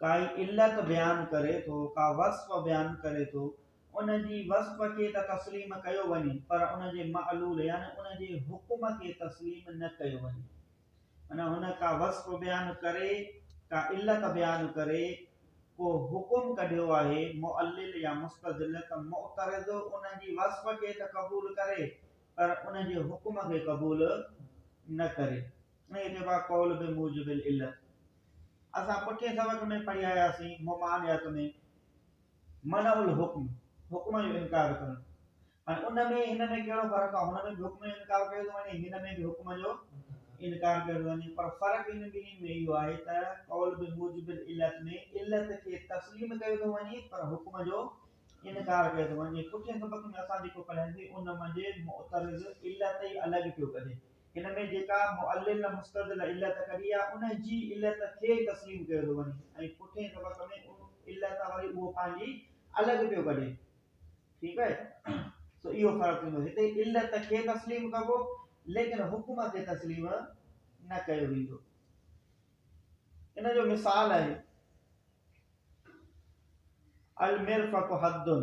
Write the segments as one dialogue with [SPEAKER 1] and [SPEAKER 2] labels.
[SPEAKER 1] ڪائي علت بيان ڪري ٿو، ڪا وصف بيان ڪري ٿو، ان جي وصف کي ته تسليم ڪيو وڃي پر ان جي معلول يعني ان جي حڪم کي تسليم نه ڪيو وڃي. معنيٰ هن ڪا وصف بيان ڪري، ڪا علت بيان ڪري، ڪو حڪم ڪڍيو آهي معلل يا مستدل ته معترض ان جي وصف کي ته قبول ڪري پر ان جي حڪم کي قبول نه ڪري. هي چئبا قول بموجب العلت اسان پٺين سبق ۾ پڙهي آياسين ممانعت ۾ منع الحڪم حڪم جو انڪار ڪرڻ هاڻي ان ۾ هن ۾ ڪهڙو فرق آهي هن ۾ به حڪم جو انڪار ڪيو ٿو وڃي هن ۾ به حڪم جو انڪار ڪيو ٿو وڃي پر فرق ان ٻنهي ۾ اهو آهي ته قول به موجب علت ۾ علت کي تسليم ڪيو ٿو وڃي پر حڪم جو انڪار ڪيو ٿو وڃي پٺين سبق ۾ اسان جيڪو پڙهياسي ان منجهه معترض علت ئي الڳ پيو ڪڍي هن ۾ جيڪا معلل مستدل علت ڪري آ ان جي علت کي تسليم ڪيو ٿو وڃي ۽ پٺئين طبق ۾ ان علت وري اهو پنهنجي الڳ پيو ڪڍي ٺيڪ آهي سو اهو فرق ٿيندو هتي علت کي تسليم ڪبو ليڪن حڪم کي تسليم نه ڪيو ويندو ان جو مثال آهي المرفق حدن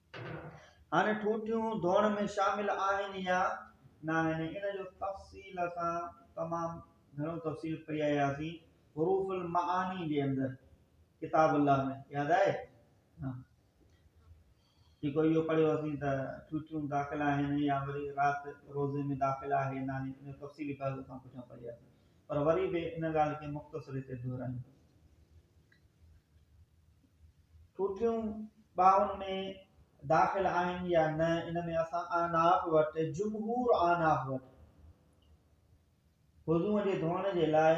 [SPEAKER 1] هاڻي ٺوٺيون ڌوئڻ ۾ شامل آهن يا ناهن ان جو تفصيل سان تمام گهڻو تفصيل پئي آياسين حروف المعاني جي اندر ڪتاب الله ۾ ياد آهي ها جيڪو اهو پڙهيو اسين ته ٺوٺيون داخل آهن يا وري رات روزي ۾ داخل آهي ناهي ان تفصيلي پهلو سان پٺيان پڙهي آياسين پر وري به ان ڳالهه کي مختصر هتي دهرايون ٺوٺيون ٻانهن ۾ داخل آهن يا نه ان ۾ اسان اعناف وٽ جمهور اعناف وٽ وضوء جي ڌوئڻ جي لاء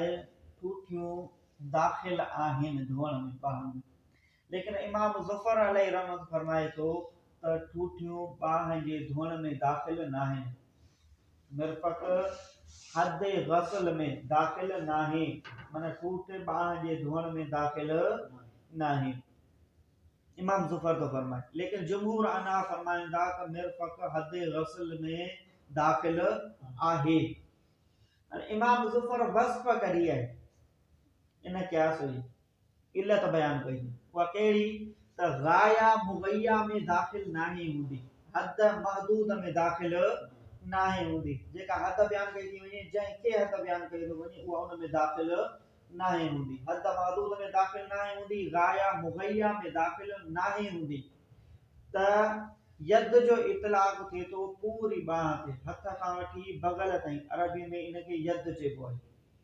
[SPEAKER 1] ٺوٺيون داخل آهن ڌوئڻ ۾ ٻانهن ۾ ليڪن امام ظفر علي رحمت فرمائي ٿو ته ٺوٺيون ٻانهن جي ڌوئڻ ۾ داخل ناهن مرفق حد غسل ۾ داخل ناهي، معنيٰ ٺوٺ ٻانهن جي ڌوئڻ ۾ داخل ناهي. امام زفر ٿو فرمائي، ليڪن جمهور احناف فرمائن ٿا ته مرفق حد غسل ۾ داخل آهي. امام زفر وصف ڪري آهي، ان قياس هئي. علت بيان ڪئي، اها ڪهڙي ته غايه مغيه ۾ داخل ناهي هوندي، حد محدود ۾ داخل ناهي هوندي، جيڪا حد بيان ڪئي ٿي وڃي، جنهن کي حد بيان ڪيو ٿو وڃي، اها ان ۾ داخل ناهي هوندي، حد محدود ۾ داخل ناهي هوندي، غايه مغيه ۾ داخل ناهي هوندي ته يد جو اطلاق ٿئي ٿو پوري ٻانهن تي، هٿ کان وٺي بغل تائين، عربي ۾ ان کي يد چئبو آهي.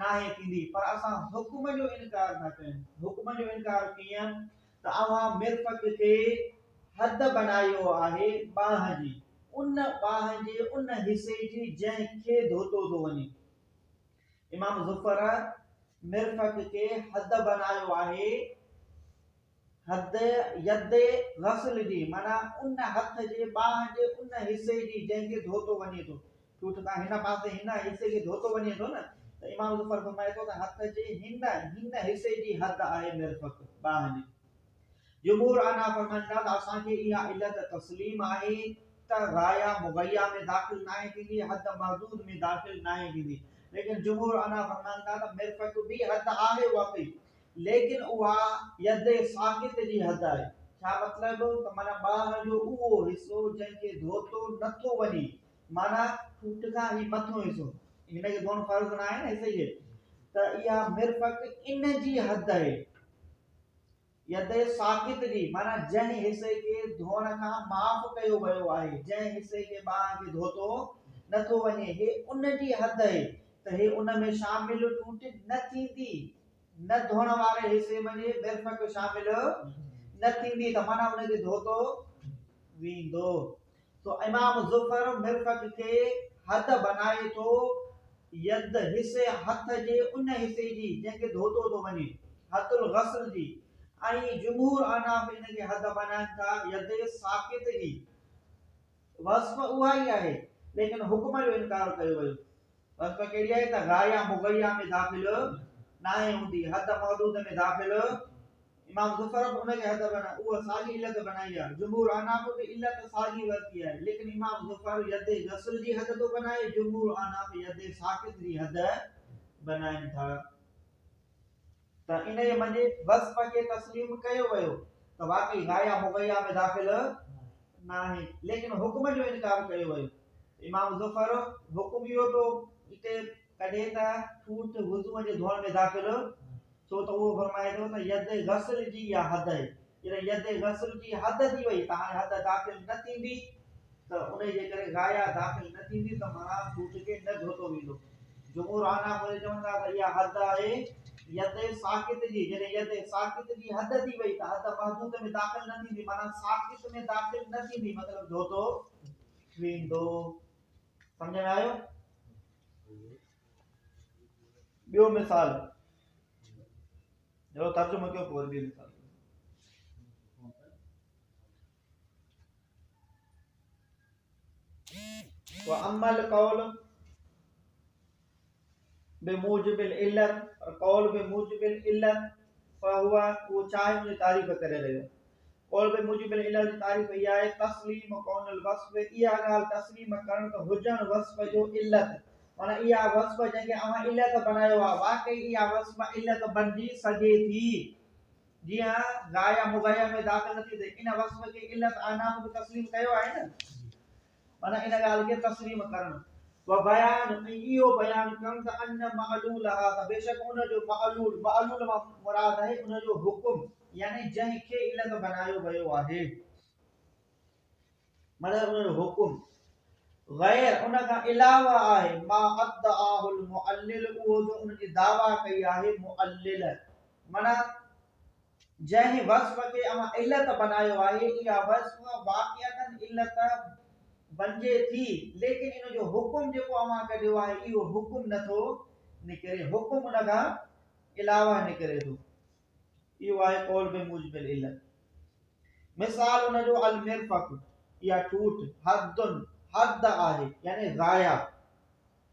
[SPEAKER 1] ناهي ٿيندي پر اسان حڪم جو انڪار ٿا ڪيون. حڪم جو انڪار ڪيئن ته اوهان مرفق کي حد بنايو آهي ٻانهن جي، ان ٻانهن جي ان حصي جي جنهن کي ڌوتو ٿو وڃي. امام ظفر مرفق کي حد بنايو آهي. حد، يد، غسل جي معنيٰ ان هٿ جي ٻانهن جي ان حصي جي جنهن کي ڌوتو وڃي ٿو. ٺوٺ کان هن پاسي هن حصي کي ڌوتو وڃي ٿو نه ته امام ظفر فرمائي ٿو ته هٿ جي هن هن حصي جي حد آهي مرفق، ٻانهن جي. جمهور عنها فرمائن ٿا ته اسان کي اها علت تسليم آهي ته غايه مغيه ۾ داخل ناهي ٿيندي، حد محدود ۾ داخل ناهي ٿيندي. ليڪن جمهور عنها فرمائن ٿا ته مرفق به حد آهي واقعي ليڪن اها يد ساقط جي حد آهي. ڇا مطلب ته معنيٰ ٻانهن جو اهو حصو جنهن کي ڌوتو نه ٿو وڃي معنيٰ ٺوٺ کان هي مٿيون حصو هن کي ڌوئڻ فرض ناهي نه صحيح اهي ته اها مرفق ان جي حد اهي يد ساقط جي معنيٰ جنهن حصي کي ڌوئڻ کان معاف ڪيو ويو آهي جنهن حصي کي ٻانهن کي ڌوتو نه ٿو وڃي هي ان جي حد اهي ته هي ان ۾ شامل ٺوٺ نه ٿيندي نه ڌوڻ واري حصي منجهه مرفق شامل نه ٿيندي ته معنيٰ ان کي ڌوتو ويندو. سو امام ظفر مرفق کي حد بنائي ٿو يد حصي هٿ جي ان حصي جي جنهن کي ڌوتو ٿو وڃي، حد الغسل جي، ۽ جمهور احناف ان کي حد بنائن ٿا يد ساقط جي. وصف اها ئي آهي ليڪن حڪم جو انڪار ڪيو ويو. بس پ ڪهڙي آهي ته غا يا مغيا ۾ داخل ناهي هوندي، حد محدود ۾ داخل امام ظفر به ان کي حد بنا اهو ساڳي علت بنائي آهي، جمهور احناف به علت ساڳي ورتي آهي، ليڪن امام ظفر يد غسل جي حد ٿو بنائي، جمهور احناف يد ساقط جي حد بنائين ٿا. ته انهيء منجهه وصف کي تسليم ڪيو ويو ته واقعي غايه مغيه ۾ داخل ناهي ليڪن حڪم جو انڪار ڪيو ويو. امام زفر حڪم اهو ٿو اتي ڪڍي ته ٺوٺ وضوء جي ڌوئڻ ۾ داخل ڇو ته اهو فرمائي ٿو ته يد غسل جي يا حدئ جڏهن يد غسل جي حد ٿي وئي ته هاڻي حد داخل نه ٿيندي ته انهي جي ڪري غايه داخل نه ٿيندي ته معنيٰ ڪوٺ کي نه ڌوتو ويندو. جمهور حانا موري چون ٿا ته اها حد آهي يد ساقط جي، جڏهن يد ساقط جي حد ٿي وئي ته حد محدود ۾ داخل نه ٿيندي معنيٰ ساقط ۾ داخل نه ٿيندي مطلب ڌوتو ويندو. سمجهه ۾ آيو؟ ٻيو مثال. جهڙو ترجمو ڪيو پوء وري ٻيو مثال ڏيو. واما القول بموجب العلت قول بموجب العلت فهو اهو چاهي جي تعريف ڪري رهيو قول به موجب العلل جي تعريف هي آهي، تسليم ڪون الوصف، اها ڳالهه تسليم ڪرڻ ته هجڻ وصف جو علت، معنيٰ اها وصف جنهن کي اوهان علت بنايو آهي، واقعي اها وصف علت بنجي سگهي ٿي، جي ها، غايه مغيه ۾ داخل نه ٿي ٿئي، ان وصف کي علت آناف به تسليم ڪيو آهي نه. معنيٰ ان ڳالهه کي تسليم ڪرڻ، و بيان ۽ اهو بيان ڪرڻ ته ان معلولها ته بيشڪ ان جو معلول، معلول مان مراد آهي ان جو حڪم يعني جنهن کي علت بنايو ويو آهي معنيٰ ان جو حڪم غير ان کان علاوه آهي ما ادعاه المعلل اهو جو ان جي دعويٰ ڪئي آهي معلل معنيٰ جنهن وصف کي اوهان علت بنايو آهي، اها وصف واقعتاً علت بنجي ٿي، ليڪن ان جو حڪم جيڪو اوهان ڪڍيو آهي، اهو حڪم نه ٿو نڪري، حڪم ان کان علاوه نڪري ٿو. اهو آهي قول بموجب العلت. مثال ان جو المرفق، اها ٺوٺ، حد، حد آهي، يعني غايه.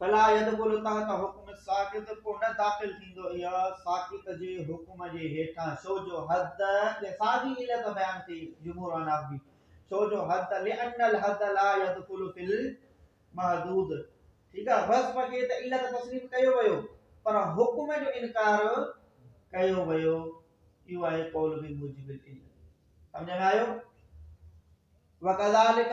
[SPEAKER 1] فلا يدخل تحت حڪم الساقط پوء نه داخل ٿيندو اها ساقط جي حڪم جي هيٺان ڇو جو حد يا ساڳي علت بيان ڪئي جمهور احناف جي ڇو جو حد لئن الحد لا يدخل في المحدود ٺيڪ آهي وصف کي ته علت تسليم ڪيو ويو پر حڪم جو انڪار ڪيو ويو اهو آهي قول به موجب العلم سمجھ ۾ آيو وڪذالک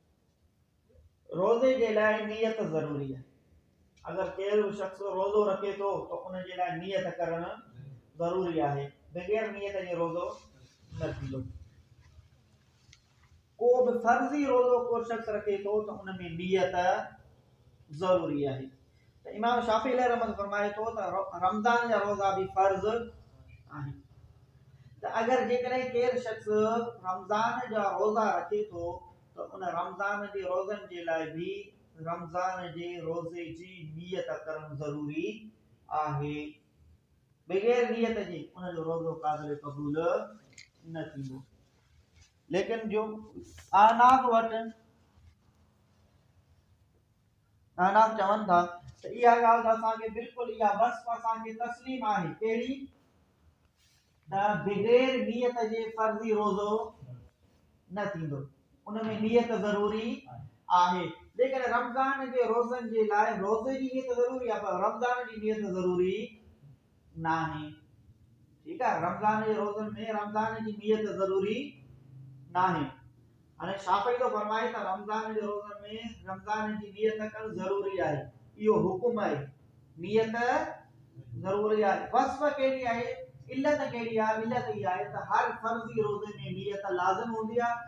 [SPEAKER 1] روزي جي لاء نيت ضروري آهي اگر ڪير به شخص روزو رکي ٿو ته ان جي لاء نيت ڪرڻ ضروري آهي بغير نيت جي روزو نه ٿيندو ڪو به فرضي روزو ڪو شخص رکي ٿو ته ان ۾ نيت ضروري آهي ته امام شافعي عليه رحمة فرمائي ٿو ته رمضان جا روزا به فرض آهن ته اگر جيڪڏهن ڪير شخص رمضان جا روزا رکي ٿو ته ان رمضان جي روزن جي لاء به رمضان جي روزي جي نيت ڪرڻ ضروري آهي بغير نيت جي ان جو روزو قابل قبول نه ٿيندو ليڪن جو آناف وٽ ناناڪ چون ٿا ته اها ڳالهه ته اسان کي بلڪل اها وصف اسان کي تسليم آهي ڪهڙي ته بغير نيت جي فرضي روزو نه ٿيندو ان ۾ نيت ضروري آهي ليڪن رمضان جي روزن جي لاء روزي جي نيت ضروري آهي پر رمضان جي نيت ضروري ناهي ٺيڪ آهي رمضان جي روزن ۾ رمضان جي نيت ضروري ناهي هاڻي شافعي ٿو فرمائي ته رمضان جي روزن ۾ رمضان جي نيت ڪرڻ ضروري آهي اهو حڪم آهي نيت ضروري آهي وصف کي آهي علت کي آهي علت هي آهي ته هر فرضي روزي ۾ نيت لازم هوندي آهي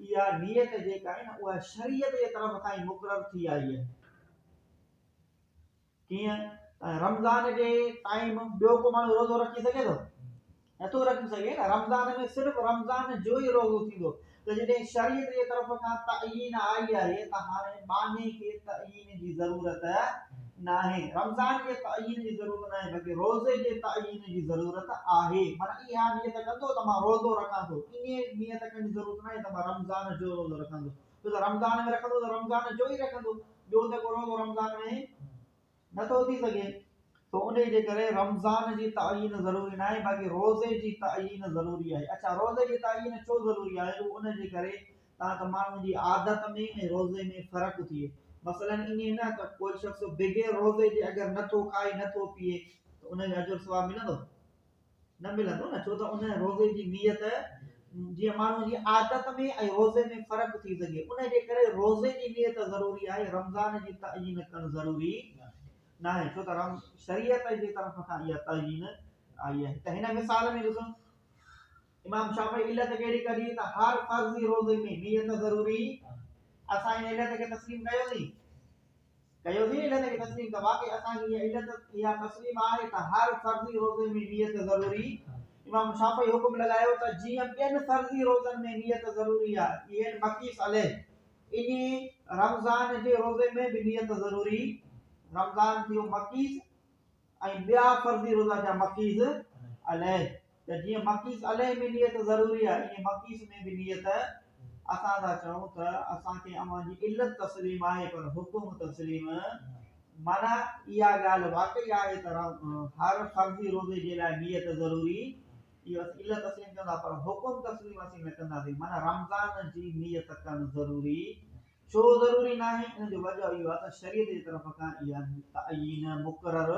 [SPEAKER 1] اها نيت جيڪا آهي نه اها شريعت جي طرف کان ئي مقرر ٿي آئي آهي. ڪيئن ته رمضان جي ٽائيم ٻيو ڪو ماڻهو روزو رکي سگهي ٿو نٿو رکي سگهي نه رمضان ۾ صرف رمضان جو ئي روزو ٿيندو ته جڏهن شريعت جي طرف کان تعين آئي آهي ته هاڻي باني کي تعين تعين جي ضرورت ناهي. رمضان جي تعين جي ضرورت ناهي بلڪه روزي جي تعين جي ضرورت آهي. معنيٰ اها نيت ڪندو ته مان روزو رکان ٿو. ائين نيت ڪرڻ جي ضرورت ناهي ته مان رمضان جو روزو رکان ٿو. ڇو ته رمضان ۾ رکندو ته رمضان جو ئي رکندو. ٻيو ته ڪو روزو رمضان ۾ نه ٿو ٿي سگهي. سو انهي جي ڪري رمضان جي تعين ضروري ناهي باقي روزي جي تعين ضروري آهي. اڇا روزي جي تعين ڇو ضروري آهي؟ اهو ان جي ڪري تان ته ماڻهوء جي عادت ۾ ۽ روزي ۾ فرق ٿئي. مثلاً ائين نه ته ڪو شخص بغير روزي جي اگر نه ٿو کائي نه ٿو پيئي ته ان جو اجر ثواب ملندو؟ نه ملندو نه، ڇو ته ان روزي جي نيت جيئن ماڻهوء جي عادت ۾ ۽ روزي ۾ فرق ٿي سگهي، ان جي ڪري روزي جي نيت ضروري آهي، رمضان جي تعين ڪرڻ ضروري ناهي، ڇو ته شريعت جي طرف کان اها تعين آئي آهي ته هن مثال ۾ ڏسو. امام شافعي علت ڪهڙي ڪڍي ته هر فرض جي روزي ۾ نيت ضروري اسان ان علت کي تسليم ڪيوسين ڪيوسين علت کي تسليم ته واقعي اسان جي علت اها تسليم آهي ته هر فرض جي روزي ۾ نيت ضروري امام شافعي حڪم لڳايو ته جيئن ٻين فرض جي روزن ۾ نيت ضروري آهي ايئن مقيس علي اني رمضان جي روزي ۾ به نيت ضروري رمضان ٿيو مقيس ۽ ٻيا فرضي روزا جا مقيس عليه ته جيئن مقيس عليه ۾ نيت ضروري آهي ائين مقيس ۾ به نيت اسان ٿا چئون ته اسان کي اوهان جي علت تسليم آهي پر حڪم تسليم معنيٰ اها ڳالهه واقعي آهي ته هر فرضي روزي جي لاء نيت ضروري اهو اسين علت تسليم ڪندا پر حڪم تسليم اسين نه ڪنداسين معنيٰ رمضان جي نيت ڪرڻ ضروري ڇو ضروري ناهي؟ ان جو وجهه اهو آهي ته شريعت جي طرف کان اها تعين مقرر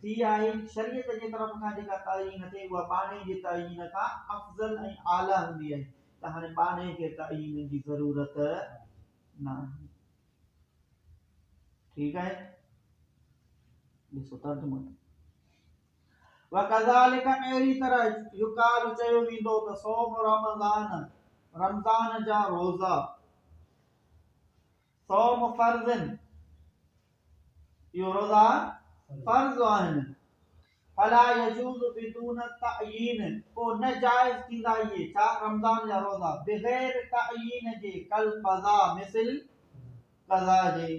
[SPEAKER 1] ٿي آهي. شريعت جي طرف کان جيڪا تعين ٿئي اها ٻانهي جي تعين کان افضل ۽ اعليٰ هوندي آهي ته هاڻي ٻانهي کي تعين جي ضرورت ناهي. ٺيڪ آهي. ڏسو ترجمو. وڪذالک اهڙي طرح يقال چيو ويندو ته صوم رمضان رمضان جا روزا صوم فرضن اهو روزا فرض آهن فلا يجوز بدون تعين پو نه جائز ٿيندا اهي ڇا رمضان جا روزا بغير تعين جي کل قضا مثل قضا جي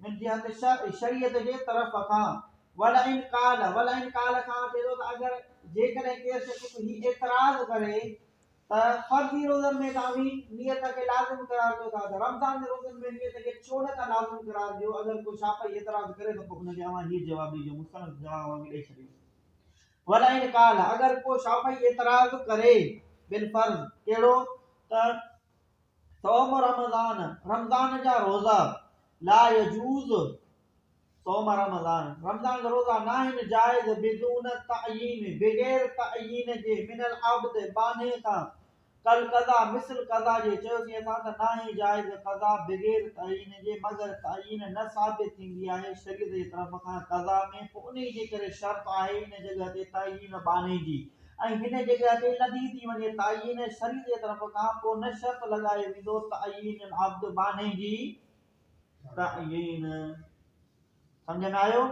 [SPEAKER 1] منهنجي هٿ شرع، شريعت، جي طرف کان ولئن قال، ولئن قال، کان اچي ٿو ته اگر جيڪڏهن ڪير شخص به هي اعتراض ڪري ته فرضي روزن ۾ توهين نيت کي لازم قرار ڏيو ٿا ته رمضان جي روزن ۾ نيت کي ڇو نه ٿا لازم قرار ڏيو اگر ڪو شافعي اعتراض ڪري ته پوء ان کي اوهان هي جواب ڏيجو مستند جواب اوهان کي ڏئي ڇڏيو ولئن قال، اگر ڪو شافعي اعتراض ڪري بالفرض، ڪهڙو ته صوم رمضان، رمضان جا روزا، لا يجوز، صوم رمضان، رمضان جا روزا ناهن جائز بدون تعين، بغير تعين جي، من العبد، ٻانهي کان، ڪالقضا، مثل قضا جي، چيوسين اسان ته ناهي جائز قضا بغير تعين جي، مگر تعين نه ثابت ٿيندي آهي شريعت جي طرف کان قضا ۾، پوء انهيء جي ڪري شرط آهي ان جڳهه تي تعين ٻانهي جي. ۽ هن جڳهه تي لڌي ٿي وڃي تعين سري جي طرف کان پوء نه شرط لڳايو ويندو تعين العبد بانهي جي تعين سمجهندا آهيو.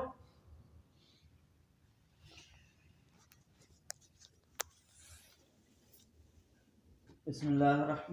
[SPEAKER 1] بسم الله الرحمن